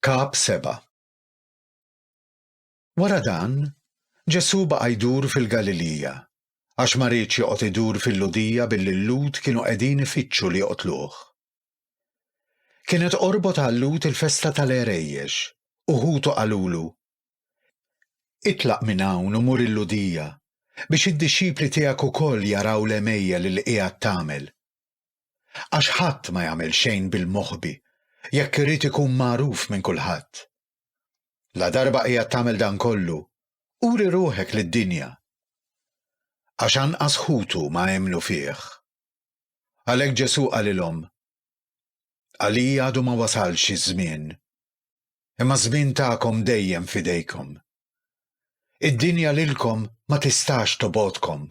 Kap 7 Wara dan, Ġesù baqa' jdur fil-Galilija, għax ma riedx joqgħod idur fil-Lhudija billi l-Lhud kienu qegħdin ifittxu li joqtluh. Kienet qorbot għal-Lhud il-festa tal-Għerejjex, u ħutu qalulu, Itlaq minn hawn u mur il-Lhudija, biex id-dixxipli tiegħek ukoll jaraw l-għemejjel li qiegħed tagħmel. Għax ħadd ma jagħmel xejn bil-moħbi jekk irid ikun magħruf minn kulħadd. La darba qiegħed tagħmel dan kollu, uri ruħek lid-dinja. Għax anqas ħutu ma emmnu fih. Għalhekk Ġesù qalilhom, Għalija għadu ma wasalx iż-żmien, imma żmien tagħkom dejjem fidejkom. Id-dinja lilkom ma tistax tobodkom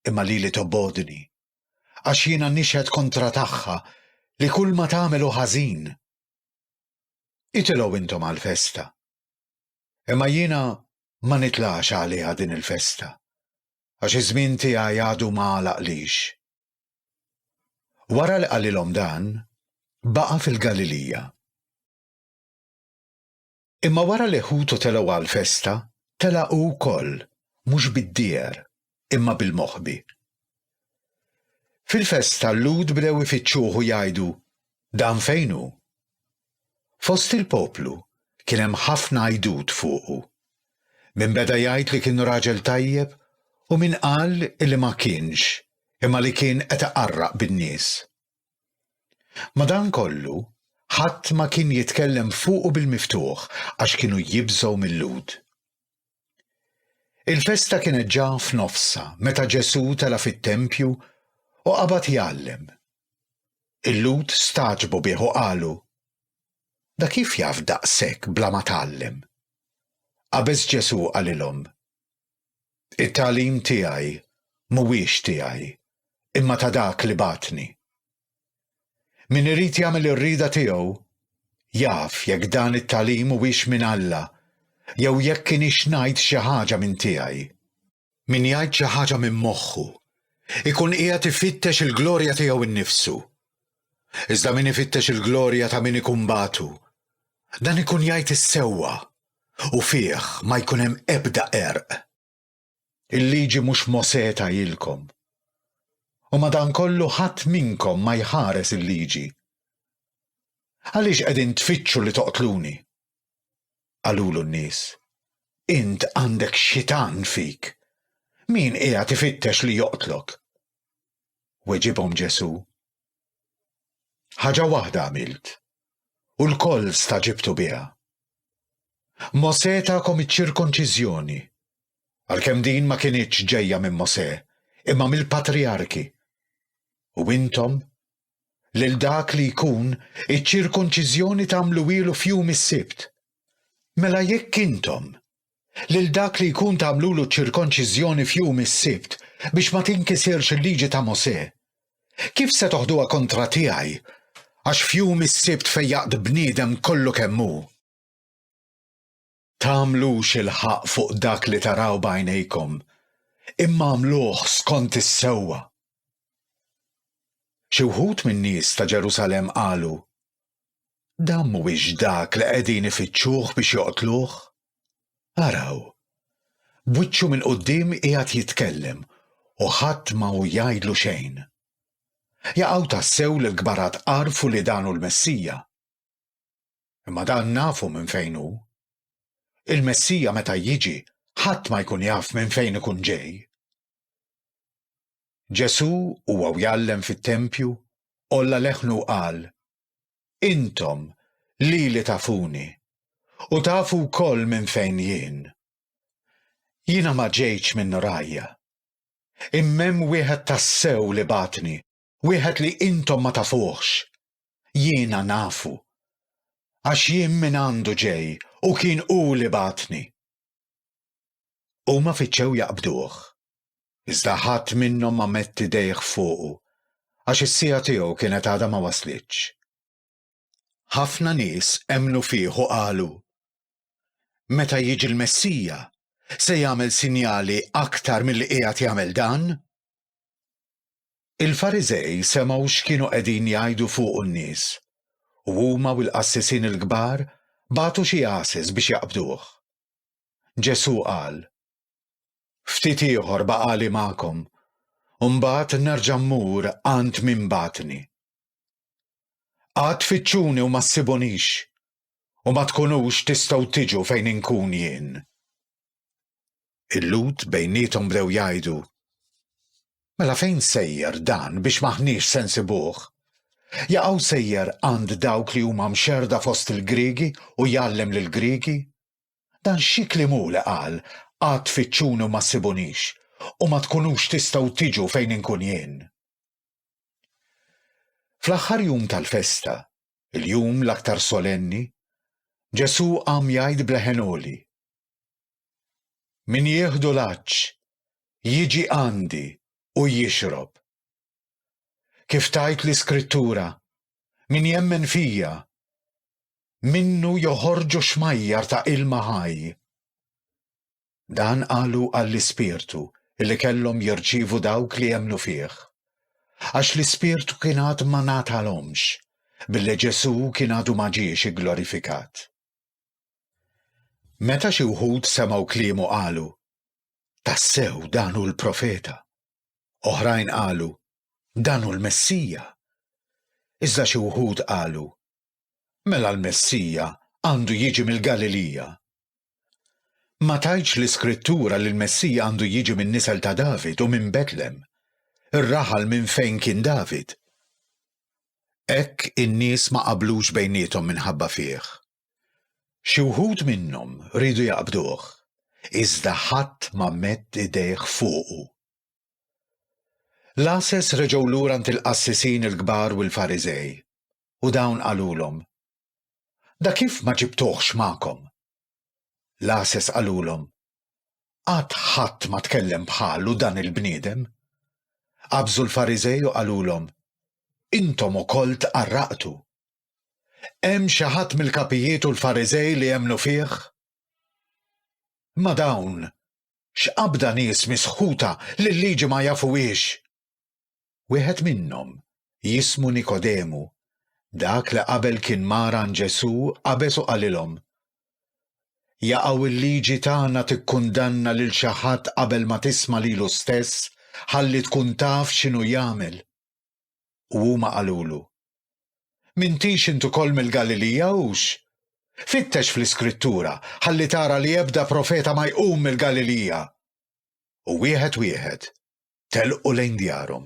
imma lili tobbogħdni, għax jiena nixhed kontra tagħha li kulma tagħmel hu ħażin. Itilgħu intom għall-festa. Imma jiena ma nitlax għaliha din il-festa, għax iż-żmien tiegħi għadu ma għalaqlix. Wara li qalilhom dan, baqa' fil-Galilija. Imma wara li ħutu telgħu għall-festa, tela' hu wkoll, mhux bid-dieher, imma bil-moħbi. Fil-festa l-Lhud bdew ifittxuh u jgħidu, Dan fejn hu? Fost il-poplu kien hemm ħafna għidut fuqu. Min beda jgħid li kien raġel tajjeb u min qal li ma kienx imma li kien qed iqarraq bin-nies. Madankollu, ħadd ma kien jitkellem fuqu bil-miftuħ għax kienu jibżgħu mil-Lhud. Il-festa kienet ġa f'nofsha meta Ġesù tela' fit-tempju u qabad jgħallem. Il-Lhud stagħġbu bih u qalu, Da kif jaf daqshekk bla ma tgħallem? Qabeż Ġesù qalilhom, It-tagħlim tiegħi mhuwiex tiegħi, imma ta' dak li bagħatni. Min irid jagħmel ir-rieda tiegħu, jaf jekk dan it-tagħlim huwiex minn Alla jew jekk inix ngħid xi ħaġa minn tiegħi. Min jgħid xi ħaġa minn moħħu, ikun qiegħed ifittex il-glorja tiegħu nnifsu. iżda min ifittex il-glorja ta' min ikun bagħtu, dan ikun jgħid is-sewwa u fih ma jkun hemm ebda qerq. Il-liġi mhux Mosè tagħilkom. U madankollu ħadd minnkom ma jħares il-liġi. Għaliex qegħdin tfittxu li toqtluni? Qalulu n-nies, Int għandek xitan fik. Min qiegħed ifittex li joqtlok? Weġibhom Ġesù, Ħaġa waħda għamilt, u lkoll staġibtu biha. Mosè takom iċ-ċirkonċiżjoni, għalkemm din ma kinitx ġejja minn Mosè, imma mill-patrijarki. U intom lil dak li jkun iċ-ċirkunċiżjoni tagħmluhielu f'jum is-Sibt. Mela jekk intom lil dak li jkun tagħmlulu ċ-ċirkonċiżjoni f'jum is-Sibt biex ma tinkisirx il-liġi ta' Mosè, kif se toħduha kontra tiegħi għax f'jum is-Sibt fejjaqt bniedem kollu kemm hu? Tagħmlux il-ħaqq fuq dak li taraw b'għajnejkom, imma agħmluh skont is-sewwa. Xi wħud min-nies ta' Ġerusalemm qalu, Dan mhuwiex dak li qegħdin ifittxuh biex joqtluh? Araw! B'wiċċu minn quddiem qiegħed jitkellem u ħadd ma hu jgħidlu xejn. Jaqaw tassew li l-kbarat għarfu li dan hu l-Messija. imma dan nafu minn fejn hu. Il-Messija meta jiġi ħadd ma jkun jaf minn fejn ikun ġej. Ġesù huwa jgħallem fit-tempju għolla leħnu u qal, Intom lili tafuni u tafu wkoll minn fejn jien. Jiena ma ġejtx minn rajja. Imma hemm wieħed tassew li bagħatni wieħed li intom ma tafuhx, jiena nafu, għax jien mingħandu ġej u kien hu li bagħatni. Huma fittxew jaqbduh, iżda ħadd minnhom ma mett idejh fuqu, għax is-siegħa tiegħu kienet għadha ma waslitx. Ħafna nies emmnu fih u qalu, Meta jiġi l-Messija, se jagħmel sinjali aktar milli qiegħed jagħmel dan? Il-Fariżej semgħu x'kienu qegħdin jgħidu fuqu n-nies, u huma u l-qassisin il-kbar bagħtu xi għases biex jaqbduh. Ġesù qal, Ftit ieħor baqagħli magħkom, u mbagħad nerġa' mmur għand min bagħatni. Għad tfittxuni u ma ssibunix, u ma tkunux tistgħu tiġu fejn inkun jien. Il-Lhud bejniethom bdew jgħidu, Mela fejn sejjer dan biex m'aħniex se nsibuh? Jaqgħu sejjer għand dawk li huma mxerda fost il-Griegi u jgħallem lill-Griegi? Dan xi kliem hu li qal, Għad tfittxuni u ma ssibunix, u ma tkunux tistgħu tiġu fejn inkun jien? Fl-aħħar jum tal-festa, il-jum l-aktar solenni, Ġesù qam jgħid b'leħen għoli, Min jieħdu l-għatx, jiġi għandi u jixrob. Kif tgħid l-Iskrittura, min jemmen fija, minnu joħorġu xmajjar ta' ilma ħaj. Dan qalu għall-Ispirtu li kellhom jirċievu dawk li emmnu fih. Għax l-Ispirtu kien għad ma ngħatalhomx, billi Ġesù kien għadu ma ġiex igglorifikat. Meta xi wħud semgħu kliemu qalu, Tassew dan hu l-profeta. Oħrajn qalu, Dan hu l-Messija. Iżda xi wħud qalu, Mela l-Messija għandu jiġi mill-Galilija. Ma tgħidx l-Iskrittura li l-Messija għandu jiġi min-nisel ta' David u minn Betlem, ir-raħal minn fejn kien David? Hekk in-nies ma qablux bejniethom minħabba fih. Xi wħud minnhom riedu jaqbduh, iżda ħadd ma medd idejh fuqu. L-għases reġgħu lura għand il-qassisin il-kbar u l-Fariżej, u dawn qalulhom, Da kif ma ġibtuhx magħkom? L-għases qalulhom, Qatt ħadd ma tkellem bħalu dan il-bniedem. Qabżu l-Fariżej u qalulhom, Intom ukoll tqarraqtu. Hemm xi ħadd mill-kapijiet u l-Fariżej li emmnu fih? Imma dawn x'qabda nies misħuta li l-liġi ma jafuhiex! Wieħed minnhom, jismu Nikodemu, dak li qabel kien mar għand Ġesù, qabeż u qalilhom, Jaqaw il-liġi tagħna tikkundanna lil xi ħadd qabel ma tisma' lilu stess ħalli tkun taf x'inhu jagħmel? U huma qalulu, M'intix int ukoll mill-Galilija hux? Fittex fl-Iskrittura ħalli tara li ebda profeta ma jqum mill-Galilija. U wieħed wieħed telqu lejn djarhom.